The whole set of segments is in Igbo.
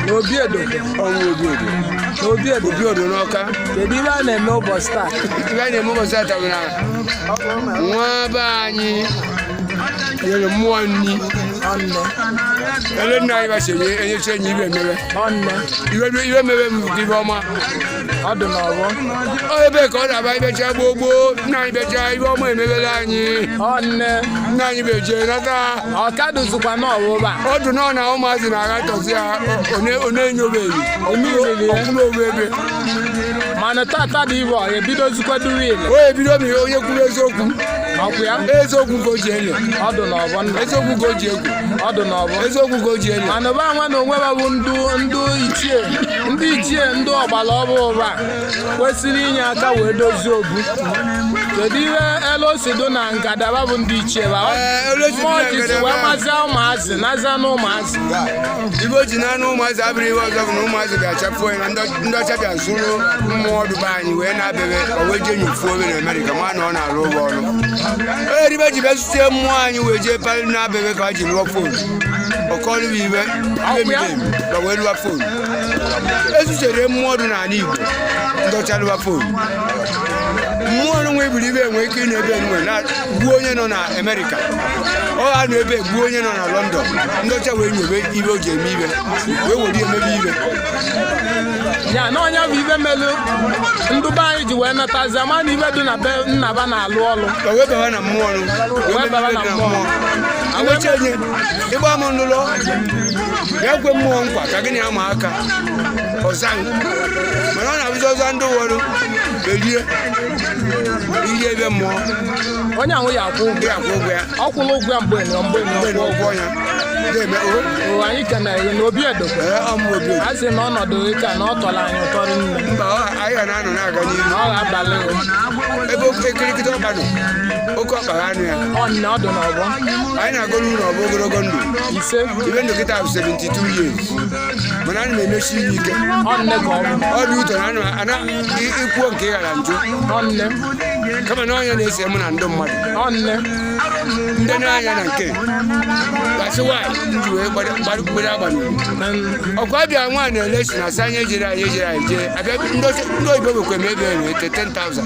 n'obi edo ọnwụ obi edo n'obi edo obi edo n'ọka kedu ihe a na-eme ụbọchị taa ihe a na-eme ụbọchị taa bụ na nwa be anyị nyere mmụọ nri ọnne ele nna anyị ba sịrị enyecha enyi ibe mere ọnne iwe iwe mere m dị ọma ọ dị n'ọgbọ Ọ ebe ka ọ na-aba ibecha gboo gboo nna anyị becha ibe ọma emebela anyị ọ nne nna anyị ba je nata ọ ka dụzịkwa n'ọwụba ọ dụ na ọ na ụmụazị na-aghatọzi ya ọ- ọ na- ọ na-enyobeghị Onyenyere ya. ọ kwụrụ ogbe ebe mana tata dị ibe ọ ya ebidozikwedu wiil o ebido m ihe onye kwuru eziokwu ọkwa ya eziokwu ka o ji ele ọ dị n'ọgbọ nna eziokwu ka o ji egwu ọ dị n'ọgbọ eziokwu ka o ji ele mana ụba nwa na onwe ba bụ ndị ndị ichie ndị ichie ndị ọgbara ọhụrụ a kwesịrị inye aka wee dozie obu kedu ihe ele o si dụ na ngadaba bụ ndị ichie ba Ee, ele o si dụ na mmụọ ji si ngalaba. wee mazia ụmụazị nazia na ụmụazị ibe o ji naanị ụmụazị abụrụ ihe ọzọ bụ na ụmụazị ga-achapụ anya na ndị- ndị ọcha bịa zụrụ mmụọ ndụba anyị wee na-abịabe o wee jee nyofuo obe na Amerịka ma na ọ na-arụ ụgwọ ọrụ onye ribe ji bịa zụtie mmụọ anyị wee jee palị na-abịabe ka ha ji rụọ fon ọkọlụ bụ ibe na wee lụwa fon ezuchere mmụọ dị n'ala Igbo ndị ọcha lụwa fon mmụọ nwe ebiri ibe e nwe ike ịnọ ebe nwa na gbuo onye nọ na Amerịka ọ ha nọ ebe gbuo onye nọ na London ndị ọcha wee nyobe ibe o ji eme ibe wee were emebe ibe ya na ọ nya bụ ibe melu ndụba anyị ji wee matazi ama na ibe dị na be nna ba na-alụ ọlụ wee baba na mmụọ wee baba na mmụọ ịgba m n'ụlọ ya kwe mmụọ nkwa ka gị na ya ma aka ọza m. mana ọ na-abụzi ọza ndị ụfọdụ belie iri ibe mmụọ onye ahụ ya akwụ ụgwọ ndị akwụ ụgwọ ya ọ kwụla ụgwọ ya mgbe nọ mgbe nọ mgbe na ụgwọ ya ga-eme o o anyị kenere na obi edokwe ee ọ mụ obi a sị na ọnọdụ ịka na ọ tọrọ anyị ụtọ nne mba ọ- anyị ga na-anọ na-aga n'ihu na ọ ga-abalị o ebe oke kirikiri ọkpa nọ oke ọkpa anụ ya ọnụ ọ dụ na ọgbọ anyị na-agọrọ unu ọ bụ ogologo ndụ ise ibe ndụ kịta bụ 72 years mana ana m emesi ihe ike ọnne ka ọ bụ ọ dị ụtọ na ana m- ana i- ikwuo nke ị ghara njụ ọnne kama na ọ nya na-ese mụ na ndị mmadụ ọnne ndị na-anya na nke gasị nwaanyị ji wee gbado- gbado- gbado agba n'ugwu ọkwa Abia nwaanyị na-ele si na asa anyị ejere anyị ejere anyị jee Abia ndị oche- ndị oyibo nwekwa eme ebe ere ete 10,000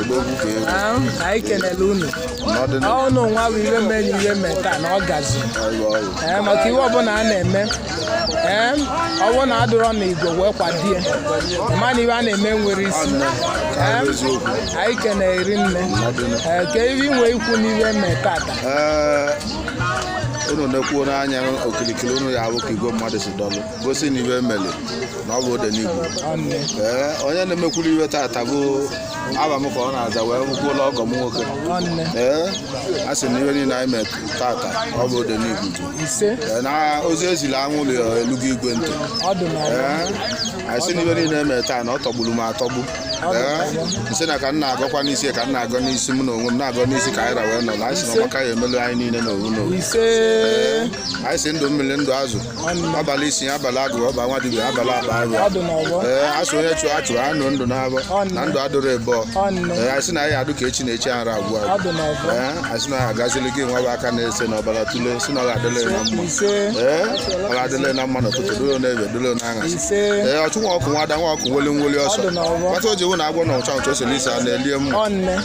odogwu ka ego Ah, anyị kenele unu n'ọdịnihu ọnụ nwa bụ iwe mee na iwe mee taa na ọ gazi ọrụ ọrụ ee maka iwe ọbụla a na-eme ee ọ wụ na adụrọ na igwe wee kwadie ma na iwe a na-eme nwere isi Ee, eziokwu anyị kenee rinne ee ka iwe inwe ikwu n'iwe mee tata ee unu nekwuo anya okirikiri unu ya-afụ ka igwe mmadụ si dọlụ gosi na iwe mere na ọ bụ odenigbo ee onye na-emekwuru iwe tata bụ afa m ka ọ na-aza wee kwuola ọgọ m nwoke ee a sị na iwe niile anyị mee tata ọ bụ odenigbo ise Ee, na ozi eziri anwụrụ ya elugo igwe ntị ọdụ na ee anyị sị na iwe niile emere taa na ọ tọgburu m atọgbu ee m sị na ka m na-agọkwa n'isi ka m na-agọ n'isi m na onwe m na-agọ n'isi ka anyị ra wee nọ na anyị sị na ọgbaka ya emelu anyị niile n'ofu n'ofu ise anyị si ndụ mmiri ndụ azụ abalị isi abalị agụ ọba nwa dibia abalị aba abịa ee asụ onye chụọ achụ anụ ndụ n'abọ na ndụ adụrụ ebe ee asị na anyị adụ ka echi na echi ara agwụ agwụ ee asị na ya agazili gị nwa bụ aka na-ese na ọbara tụle si na ọ ga-adịle na mma ee ọ ga-adịle na mma n'ụtụtụ dụlo n'efifie dụlo n'aṅasị ee ọchụ nwa ọkụ nwe ada nwa ọkụ nweli nweli ọsọ kpata o ji wụ na agwọ na ụcha ụcha osele isi a na-elie mma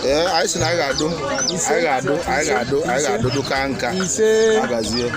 ee anyị sị na anyị ga-adụ anyị ga-adụ anyị ga-adụ anyị ga-adụ ndụ ka nka agazie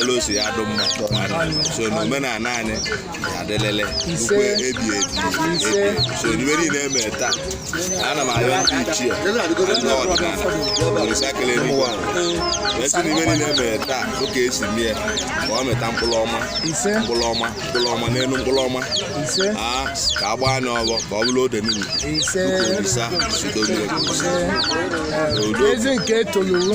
elu osi ya dụ mma so na omenala anyị adịlele ukwe ebi ebi so iwe niile eme taa ana m ayọ ndị ichie ndị ọdịnala orisa kele n'ụwa m sị na iwe niile eme taa ụka esi mie ka ọ mịta mkpụrụ ọma mkpụrụ ọma mkpụrụ ọma n'elu mkpụrụ ọma ka a gbaa anya ọghọ ka ọ bụrụ odenigbo orisa zido mmiri udo ezi nke etoluru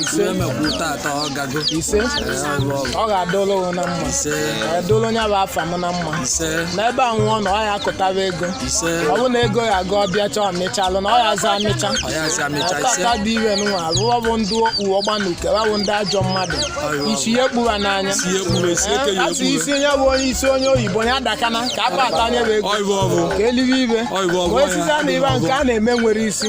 ise emekwu tata ọ gago ise ọ ga-adụlụ gị na mma ise edụlụ onye bụ afa m na mma ise n'ebe ọ wụna ọ ya akụtaba ego ise ọ bụ na ego ya aga ọbịa chọọ mịchalụ na ọ ya aza amịcha ọ ya si amịcha ise ataka dị iwe nwa abụọ bụ ndị uwe gbanuke wa bụ ndị ajọ mmadụ isi ya ekpu wa n'anya si ya ekpuru esi eke ya a sị ekpuru isi onye bụ onye isi onye oyibo ya dakana ka akpa ata onye bụ ego ọyịbụ ọbụ ka elibe ibe ọyịbụ ọbụ ka osisi a na ibe nke a na-eme nwere isi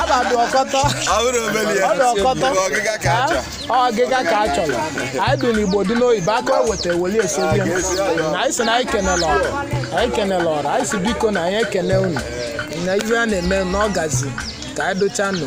abadụ ọkọtọ ọ bụrụ obere ya ọ dị ọkọtọ bụ ọgịga ka a chọrọ Ha? Ọ ọgịga ka a chọrọ anyị dị n'igbo dị n'oyibo aka weta weli esobi na anyị si na anyị kenele ọra anyị kenele ọra anyị si biko na anyị ekene unu na ihe a na-eme na ọ gazi ka anyị dụcha nụ